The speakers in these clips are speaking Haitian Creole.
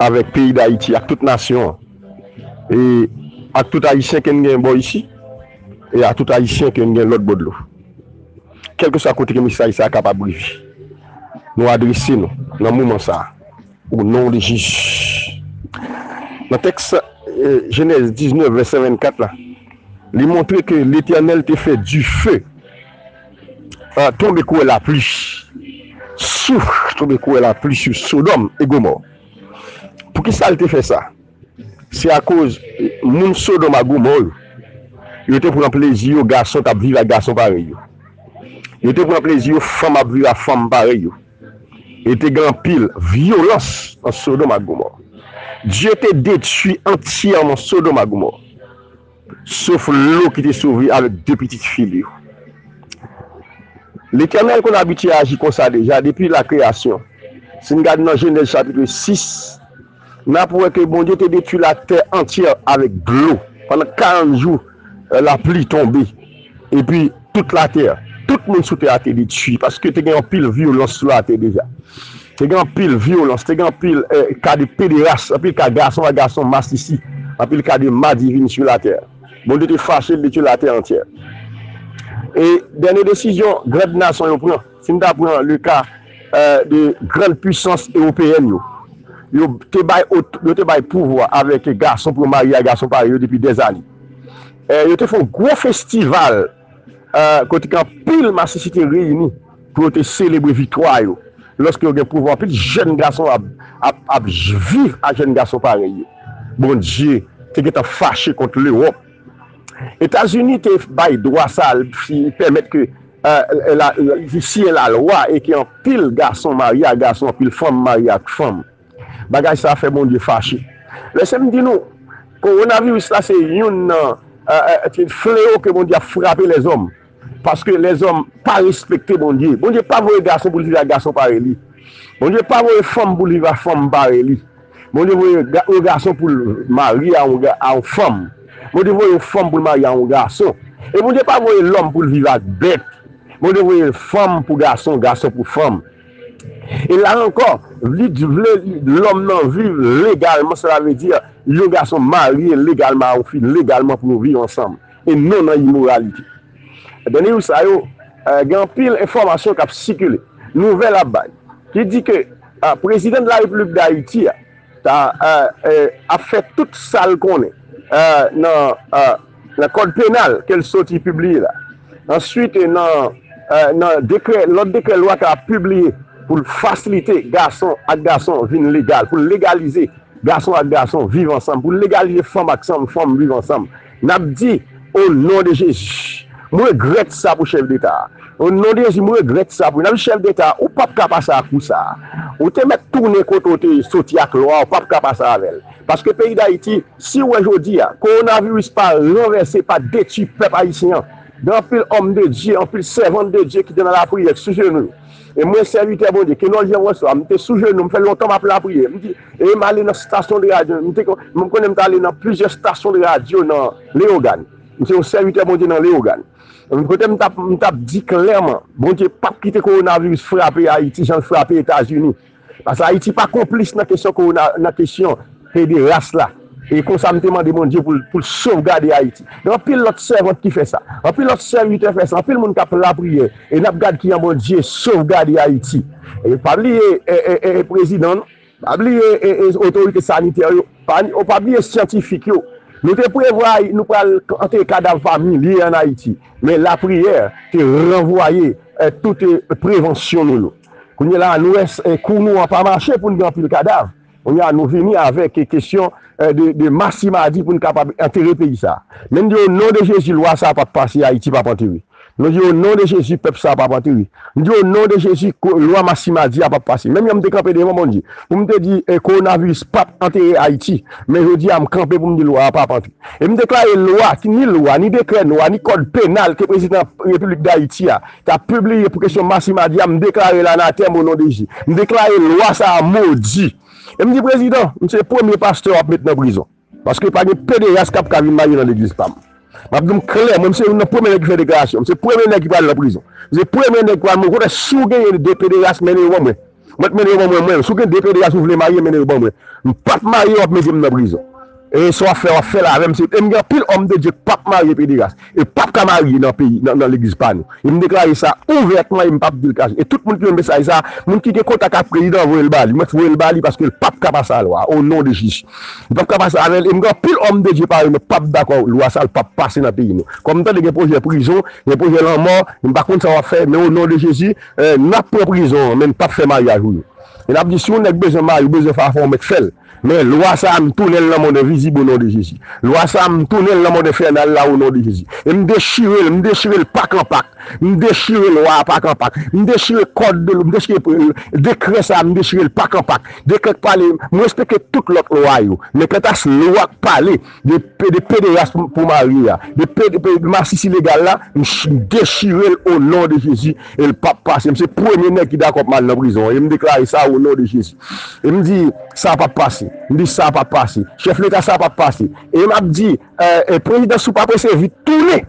Avèk peyi Dayiti ak tout nasyon an e ak tout Ayisyen ke n gen bò isi e a tout Ayisyen ke n gen lòt bò dlo. Kèlkeswa kote ke mesaj sa a kapab rive, nou adrese nou nan moman sa a, O non de Jezi. Nan tèks Jenèz 19 vèsè 24 la, li montre ke Letènèl te fè dife. An, tonbe kouwè lapli, souf, tonbe kouwè lapli sou Sodòm e Gomò. Poukisa l te fè sa? Se akoz moun Sodòm ak Gomò yo, yo te pran plezi yo gason t ap viv ak gason parèy yo. Yo te pran plezi yo fanm ap viv ak fanm parèy yo. E te gen anpil vyolans nan Sodòm ak Gomò. Dye te detwi antyèman Sodòm ak Gomò. Sof Lo ki te sove avèk de pitit fi li yo. Letènèl konn abitye aji konsa deja depi lakreyasyon. Si n gade nan Jenèz chapitre 6, n ap wè ke Bondye te detwi latè antyè avèk dlo pandan karant jou lapli tonbe epi. Tout latè, tout moun sou tè a te detui, paske te gen anpil vyolans sou latè deja. Te gen anpil vyolans, te gen anpil ka de pederas, anpil ka gason ak gason masisi, anpil ka de madivin sou latè. Bondye te fache, li te tye latè antyè. E dènye desizyon grand nason yo pran, si n ta pran le ka de grand pwisans ewopeyèn yo, yo te bay pouvwa avèk gason pou yo marye ak gason parèy yo depi dèzane. Yo te fè yon gwo festival kote ke anpil masisi te reyini pou yo te selebre viktwa yo. Lòske yo gen pouvwa, anpil jèn gason ap viv ak jèn gason parèy yo. Bondye te gentan fache kont Lewòp. Etazini te bay dwa sa, li pèmèt ke, li siyen lalwa e ke anpil gason marye ak gason, anpil fanm marye ak fanm. Bagay sa fè Bondye fache. Lese m di nou, Kowonaviris la se youn nan fleo ke Bondye ap frape lèzòm. Paske lèzòm pa respekte Bondye. Bondye pa voye gason pou l viv ak gason parèy li. Bondye pa voye fanm pou l viv ak fanm parèy li. Bondye voye yon gason pou l marye a yon fanm. Bondye voye yon fanm pou l marye a yon gason. E Bondye pa voye lòm pou l viv ak bèt. Bondye voye fanm pou gason, gason pou fanm. E la ankò, li t vle lòm nan viv legalman, sela vle di yon gason marye legalman a yon fi legalman pou yo viv ansanm e non nan imoralite. Dènye jou sa yo, gen anpil enfòmasyon k ap sikile, nouvèl ap bay ki di ke prezidan de la Repiblik Dayiti a, ta ap fè tout sa l konnen nan kòd penal ke l soti pibliye la, answit nan lòt dekrè lwa ke l ap pibliye pou l fasilite gason ak gason vin legal, pou l legalize gason ak gason viv ansanm, pou l legalize fanm ak fanm viv ansanm. Nap di o non de jezi m regrèt sa pou chèf deta a o non de jezi m regrèt sa pou nap di chèf deta ou pap ka pase ak kou sa ou te mèt tounen kote ou te soti ak lwa ou pap ka pase avèl paske peyi dayiti siw wè jodi a kowonaviris pa ranvèse pa detwi pèp ayisyen an gen anpil òm de Dye anpil sèvant de Dye ki te nan lapriyè sou jenou yo e mwen sèvitè Bondye ke nonl Jan Franswa m te sou jenou m fè lontan map lapriyè m di E m ale nan stasyon de radyo. M te kon, m konnen m t ale nan plizyè stasyon de radyo nan Leyogàn. M se yon sèvitè Bondye nan Leyogàn. Kote m t ap, m t ap di klèman, Bondye p ap kite kowonaviris frape Ayiti jan l frape Etazini. Pase Ayiti pa konplis nan kesyon kowona, nan kesyon pederas la. E konsa m te mande Bondye pou l pou l sovgade Ayiti. Gen anpil lòt sèvant ki fè sa. Anpil lòt sèvitè fè sa. Anpil moun k ap lapriyè. E n ap gad kijan Bondye sovgade Ayiti. E pa bliye e prezidan nou. Pa bliye e otorite sanitè yo. O pa bliye syantifik yo. Nou te prevwa nou pral antere kadav pa milye ann Ayiti. Men lapriyè te ranvwaye tout prevansyon nou yo. Kounye la a nou wè kou nou an pa mache pou n gen anpil kadav. Kounye a nou vini avèk kesyon de ma si ma di pou n kapab antere peyi sa. Men n di o non de Jezi lwa sa pap pase Ayiti pap antere. Nou di o non de Jezi pèp sa pap antere. N di o non de Jezi lwa ma si ma di a pap pase. Menm jan m te kanpe devan Bondye pou m te di kowonaviris pap antere Ayiti men jodi a m kanpe pou m di lwa a pap antre. E m deklare lwa ki ni lwa ni dekrè nwa ni kòd penal ke prezidan repiblik Dayiti a Tap pibliye pou kesyon Marci Madi a m deklare l anatèm o non de Jezi. M deklare lwa sa a modi. E m di prezidan, m se premye pastè wap met nan prizon. Paske pa gen pederas kap ka vin marye nan legliz pa m. Map di w m klè, mwen m se youn nan premye nèg ki fè deklarasyon. M se premye nèg ki pral nan prizon. M se premye nèg ki pral mande kote si w genyen 2 pederas mennen yo ban mwen. Mwen t mennen yo ban mwen mwen. Si w gen 2 pederas ou vle marye mennen yo ban mwen. M pap marye wap mete m nan prizon. Eee sa wap fè wap fèl avèm se e m gen anpil òm de Dye k pap marye pederas e pap ka marye nan peyi nan legliz pa nou e m deklare sa ouvètman e m pap dil kache e tout moun ki jwenn mesaj sa moun ki gen kontak ak prezidan an voye l bali mwen t voye l bali paske l pap ka pase a lwa o non de Jezi li pap ka pase avèl e m gen anpil òm de Dye parèy mwen k pap dakò lwa sa l pap pase nan peyi nou kòm m tande gen pwojè prizon gen pwojè lanmò m pa konn sa wap fè men o non de Jezi Nap pran prizon an men n pap fè maryaj ou yo e nap di si yon nèg bezwen mari ou bezwen fè afè ou mèt fèl men lwa sa a m tounenl nan mond envizib o non de Jezi lwa sa a m tounenl nan mond enfènal la o non de Jezi e m dechirel m dechirel pak an pak m dechire lwa a pak an pak m dechire kòd de m dechire dekrè sa a m dechirel pak an pak dekrè k pale m respekte tout lòt lwa yo men kantas lwa k pale De pederas pou mari a. De masisi legal la m dechirel o non de jezi el pap pase m se premye nèg ki dakò pman al nan prizon an em deklare sa o non de jezi em di sa pap pase m di sa pap pase chèf leta sa pap pase em ap di prezidan sou pa prese vit tounen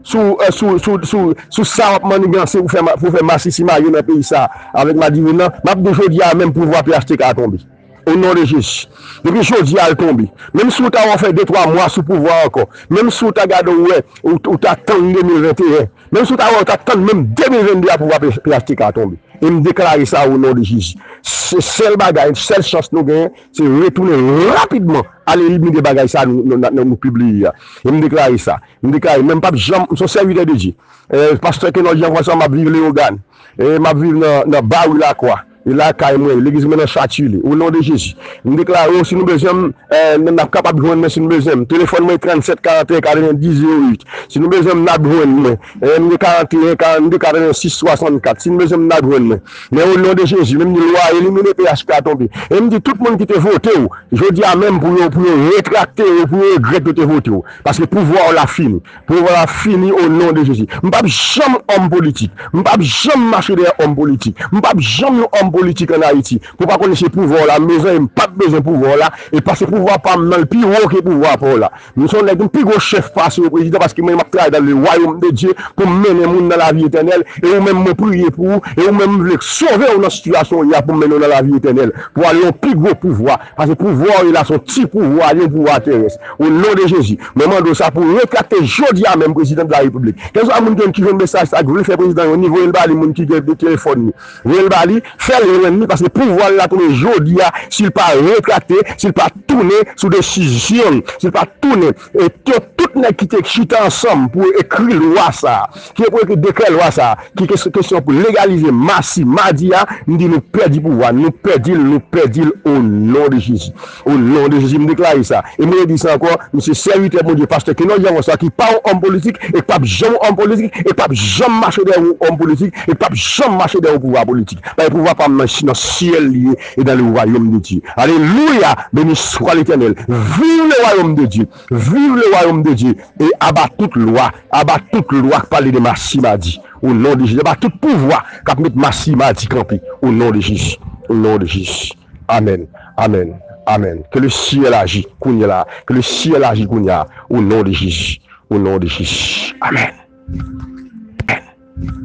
sou sa wap maniganse pou fè masisi mage nan peyi sa avèk madivin nan map di jodi a menm pouvwa phtk a tonbe. O non de Jezi. Depi jodi a l tonbe. Menm si w ta wè w fè de twa mwa sou pouvwa ankò. Menm si w ta gade w wè ou ta tann 2021. Menm si w ta wè ou ta tann menm 2022 a pouvwa phtk a tonbe. E m deklare sa o non de Jezi. Se sèl bagay, sèl chans nou genyen se retounen rapidman al elimine bagay sa nou pibliye a. E m deklare sa. M deklare men m pap janm, m se yon sèvitè de Dye. Pastè Kenòd Jean François m ap viv Leyogàn. M ap viv nan Bari Lakwa. E lakay mwen, legliz mwen nan Châtillée. O non de Jezi. M deklare w si nou bezwen m, n ap kapab jwenn mwen si nou bezwen m. Telefòn mwen 37 41 90 08. Si nou bezwen m, n ap jwenn mwen. M gen 41 42 86 64. Si nou bezwen m, n ap jwenn mwen. Men o non de Jezi, men m di lwa elimine phtk a tonbe. E m di tout moun ki te vote w, jodi a menm pou yo retrakte yo, pou yo regrèt yo te vote w. Paske pouvwa w la fini. Pouvoir la fini o non de jezi. M pap janm òm politik. M pap janm mache dèyè òm politik. M pap janm yon òm politik an Ayiti. Pou pa konnen se pouvwa w la mezanmi m pap bezwen pouvwa w la e pase pouvwa pa m nan l pi wo ke pouvwa pa w la. M son nèg m pi gwo chèf pase w prezidan paske mwen m ap travay dan le wayom de Dye pou m mennen moun nan lavi etènèl e ou menm mwen priye pou ou e ou menm m vle sove w nan sitiyasyon w ye a pou m mennen w nan lavi etènèl pou ale yon pi gwo pouvwa Pase pouvwa w ye la son ti pouvwa yon pouvwa terès o non de jezi mwen mande w sa pou w retrakte jodi a menm prezidan de la repiblik kèlswa moun ki jwenn mesaj sa ki vle fè prezidan yon ni voye l ba li moun ki gen telefòn li voye l ba li fè l jwenn li paske pouvwa l la tounen jodi a si l pa retrakte si l pa tounen sou desizyon l si l pa tounen E ke tout nèg ki te chita ansanm pou yo ekri lwa sa a, ki pou yo ekri dekrè lwa sa a, ki se kesyon pou legalize masi, madi a, m di nou pèdi pouvwa n, nou pèdi l, nou pèdi l o non de Jezi. O non de Jezi m deklare sa. E m redi sa ankò, m se sèvitè Bondye, pastè Kenòs Jean François ki pa yon òm politik e k pap janm yon òm politik e k pap janm mache dèyè yon òm politik e k pap janm mache dèyè yon pouvwa politik. Paske pouvwa pa m nan syèl li ye. et dans le royaume de Dieu alelouya beni swa letènèl viv le royaume de Dieu viv le royaume de Dieu e aba tout lwa aba tout lwa k pale de masi madi o non de Jezi aba tout pouvwa kap met masi madi kanpe o non de Jezi o non de Jezi amen amen amen ke le syèl aji kounye la ke le syèl aji kounya o non de Jezi o non de Jezi amen amen.